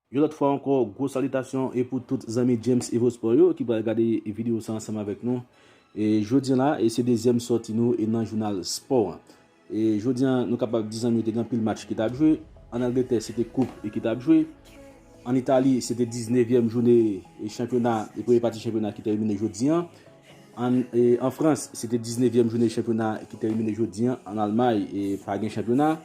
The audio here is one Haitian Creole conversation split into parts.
Yon lòt fwa ankò gwo salitasyon e pou tout zanmi James Evo Sport yo ki pral gade video sa ansanm avèk nou e jodi an la e se dezyèm sòti nou e nan jounal spò an. E jodi an nou kapab di zanmi yo te gen anpil match ki t ap jwe. An Angletè se te koup e ki t ap jwe. An Itali se te 19 vyèm joune e chanpyona e premye pati chanpyona ki tèmine jodi an. An e an Frans se te 19 vyèm joune chanpyona ki tèmine jodi an. An Almay e pa gen chanpyona.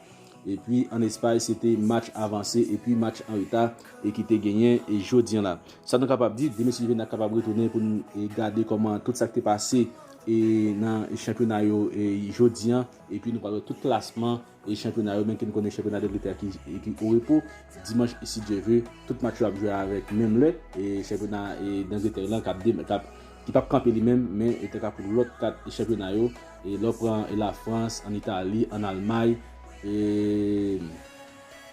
E pi an Espay se te match avanse e pi match an reta e ki te genyen e jodi an la. Sa nou kapab di, demen si Juvenal kapab retounen pou n e gade kòman tout sa k te pase. e nan chanpyona yo jodi an epi nou pral wè tout klasman e chanpyona yo menm ke nou konnen chanpyona dangletè a ki o repo dimanch si Dye ve tout match yo ap jwe avèk menm lè e chanpyona dangletè lan kap ki pap kanpe li menm men tanka pou lòt 4 chanpyona yo e lè w pran lafrans an itali an almay e.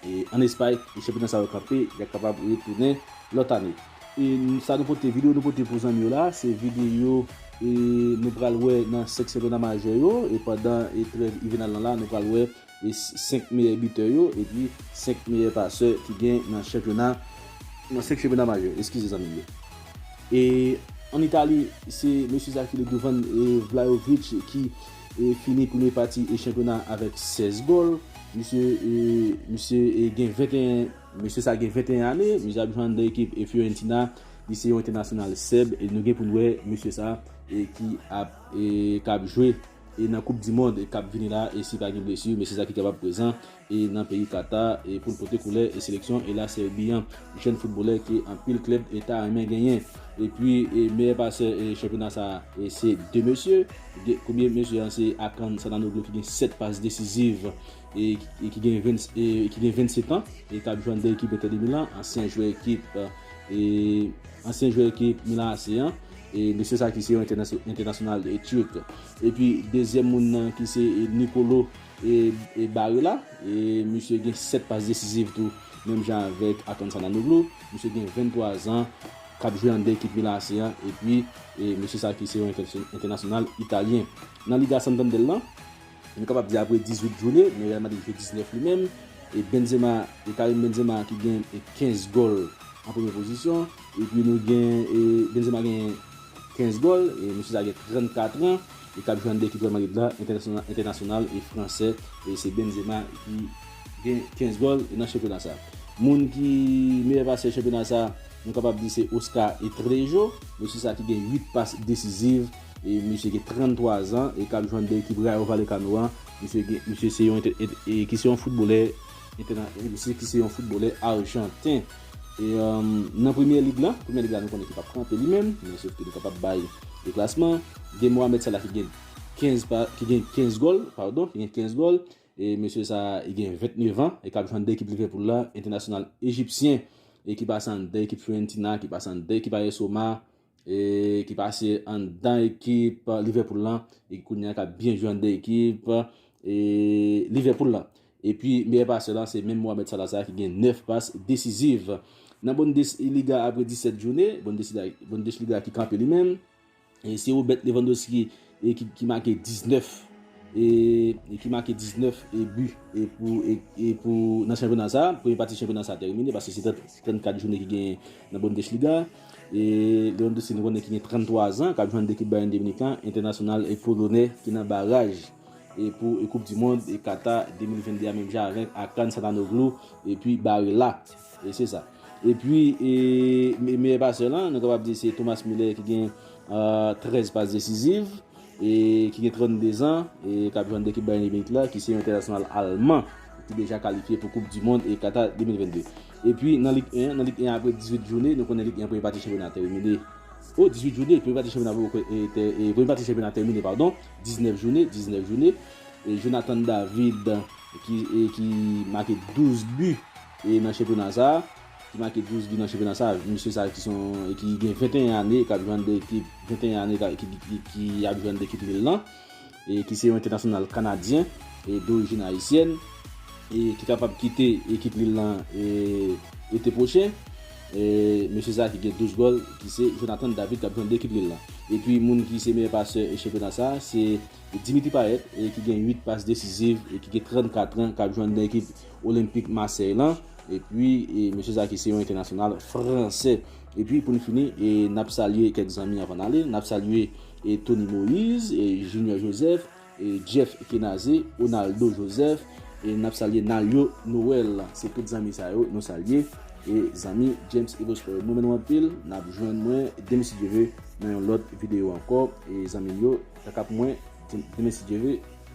E an Espay, e chanpyona sa yo kanpe, y ap kapab retounen lòt ane. E sa nou pote, videyo nou pote pou zanmi yo la, se videyo e nou pral wè nan 5 chanpyona majè yo, e pandan e trèv ivènal lan la, nou pral wè e 5 meyè bitè yo, epi 5 meyè pasè ki gen nan chanpyona, nan 5 chanpyona majè, eskize zanmi yo. E an Itali, se mesye sa ki le douvann e Vlahovic ki. fini premye pati chanpyona a avèk 16 gòl. Misye gen 21 Mesye sa gen 21 ane, misye ap jwe anndan ekip Fiorentina, li se yon entènasyonal Sèb, nou gen pou n wè mesye sa ki ap kab jwe nan koup di mond kap vini la, si pa gen blesi, mesye sa ki kapab prezan nan peyi Qatar pou l pote koulè seleksyon La Serbie an. Jèn footbalè ke anpil klèb ta renmen genyen. Epi meyè pasè chanpyona sa se 2 mesye. Premye mesye an se Hakan Calhanoglu ki gen 7 pas desiziv e ki gen 27 an e kap jwe anndan ekip Inter de Milan, ansyen jwè ekip ansyen jwè ekip Milan AC an. Mesye sa ki se yon entènasyonal Turk. Epi dezyèm moun nan ki se Nicolo. e Barrela, e misye gen 7 pas desizif tou menm jan avèk Hakan Calhanoglu, misye gen 23 zan kap jwe an 2 ekip Milan AC an epi e mesye sa ki se yon entènasyonal italyen. Nan Liga Santander lan, nou kapab di apre 18 joune, men Real Madrid jwe 19 li menm, e Benzema, e Karim Benzema ki gen 15 gòl an premye pozisyon, epi nou gen e Benzema gen 15 gòl, e mesye sa gen 34 an. E kap jwenn 2 ekip Real Madrid la, entènasyonal e fransè, e se Benzema ki gen 15 gòl nan chanpyona sa. Moun ki meyè pasè chanpyona sa, nou kapab di se Oscar Etrejo, mesye sa ki gen 8 pas desiziv, e mesye gen 33 zan, e kap jwenn 2 ekip Rayo Vallecano an, mesye gen, mesye se yon, e ki se yon foutbolè, misye ki se yon foutbolè arjanten. E nan Premyè Lig la, Premyè Lig la nou konnen ki pap kanpe li menm, men sof ke nou kapab bay de klasman. Gen Mohamed Salah ki gen 15 pa, ki gen 15 gòl, padon, ki gen 15 gòl. E mesye sa a, li gen 29 an, e kap jwe anndan ekip Liverpool la, entènasyonal ejipsyen, e ki pase anndan ekip Fiorentina, ki pase anndan ekip AS Roma. e ki pase anndan ekip Liverpool lan e kounya ka byen jwe anndan ekip e Liverpool lan. Epi meyè pasè lan se menm Mohamed Salah sa ki gen 9 pas desiziv. Nan Bundesliga apre 17 joune, Bundesliga ki kanpe li menm, e se Robert Lewandowski e ki make 19 e ki make 19 e bi e pou e pou nan chanpyona sa premye pati chanpyona sa termine paske se 34 jounen ki gen nan Bundesliga e Lewandowski nou konnen ki gen 33 zan kap jwenn dekip Bayern de Munich lan entènasyonal e polonè ki nan baraj e pou e koup di mond e Qatar 2022 a menm jan avèk Hakan Calhanoglu e pi Barella. E se sa. E pi, e meyè pasè lan, nou kapab di se Thomas Muller ki gen 13 pas desiziv, e ki gen 32 zan, e k ap jwenn nan ekip Bayern de Munich la, ki se yon entènasyonal alman, ki deja kalifye pou koup di mond e Kata 2022. E pi, nan Lig 1 an, nan Lig 1 an apre 18 joune, nou konnen Lig 1 an premye pati chanpyona a tèmine, o, 18 joune, premye pati chanpyona poko e, tè, e premye pati chanpyona a tèmine, padon, 19 joune, 19 joune, e Jonathan David, ki, e ki make 12 bi E nan chanpyona sa, ki make 12 bi nan chanpyona sa, mesye sa ki son ki gen 21 ane kap jwenn de ekip 21 ane ki ap jwenn de ekip Lille lan e ki se yon entènasyonal kanadyen e dorijin ayisyèn e ki kapab kite ekip Lille lan ete pwochen e mesye sa ki gen 12 gòl ki se Jonathan David kap jwenn de ekip Lille lan. Epi moun ki se meyè pasè chanpyona sa se Dimitri Payet ki gen 8 pas desiziv e ki gen 34 an kap jwenn de ekip Olenpik Masèy lan, epi Mesye Zaki se yon entènasyonal fransè. Epi pou n fini, n ap salye kèk zanmi avan n ale, n ap salye Tony Moïse, Junior Joseph, Jeff Kenaze, Onaldo Joseph, e n ap salye Nalio Noël. Se tout zanmi sa yo nou salye. E zanmi James Evo Sport yo m renmen nou anpil. N ap jwenn mwen demen si Dye ve nan yon lòt videyo ankò. E zanmi m yo, kaka pou mwen, demen si Dye ve.